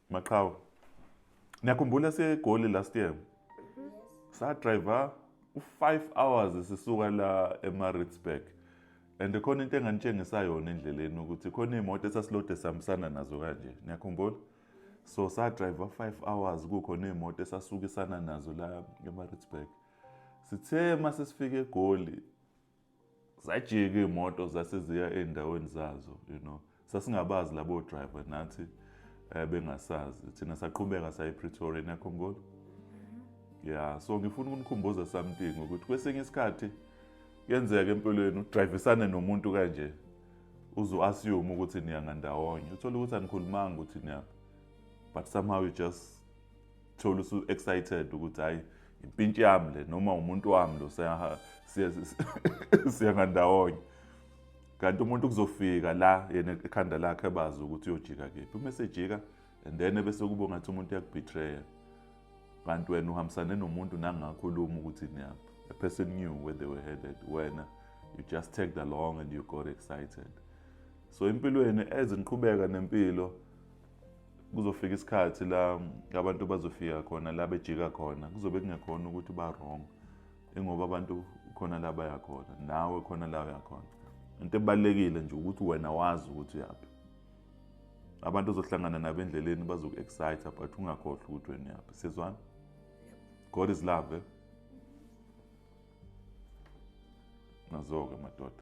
Maqhawe. Niyakhumbula segoli last year? Sa driver u-5 hours sisuka la eMaritzburg. And khona into enganitshengisa yona endleleni ukuthi khona imoto esasilode sihambisana nazo kanje. Niyakhumbula? So sa driver 5 hours kukhona imoto esasukisana nazo la eMaritzburg. Sithe masesifike eGoli zajika iy'moto zase ziya ey'ndaweni zazo you know sasingabazi labo driver nathi um bengasazi thina saqhubeka saya epretoria nekhongolo mhm. ya so ngifuna ukunikhumbuza something ukuthi kwesinye isikhathi kuyenzeka empilweni udrayivisane nomuntu kanje uze u-assume ukuthi niyangandawonye uthole ukuthi anikhulumanga ukuthi niyaphi but somehow you just thola usu excited ukuthi hayi impintshi yami le noma umuntu wami lo siya ngandawonye kanti umuntu kuzofika la yena ekhanda lakhe ebazi ukuthi uyojika kephi uma esejika and then ebese kubo ngathi umuntu uyakubetrayer kanti wena uhambisane nomuntu nangakhuluma ukuthi niyaphi a person knew where they were headed wena you just tagged along and you got excited so empilweni eziqhubeka nempilo kuzofika isikhathi la abantu bazofika khona la bejika khona kuzobe kungekhona ukuthi ba-wrong ingoba abantu khona la bayakhona nawe khona la uyakhona into ebalulekile nje ukuthi wena wazi ukuthi uyaphi abantu ozohlangana nabo endleleni bazoku-excite but ungakhohlwa ukuthi wena uyaphi sizwana god is love eh? nazo-ke madoda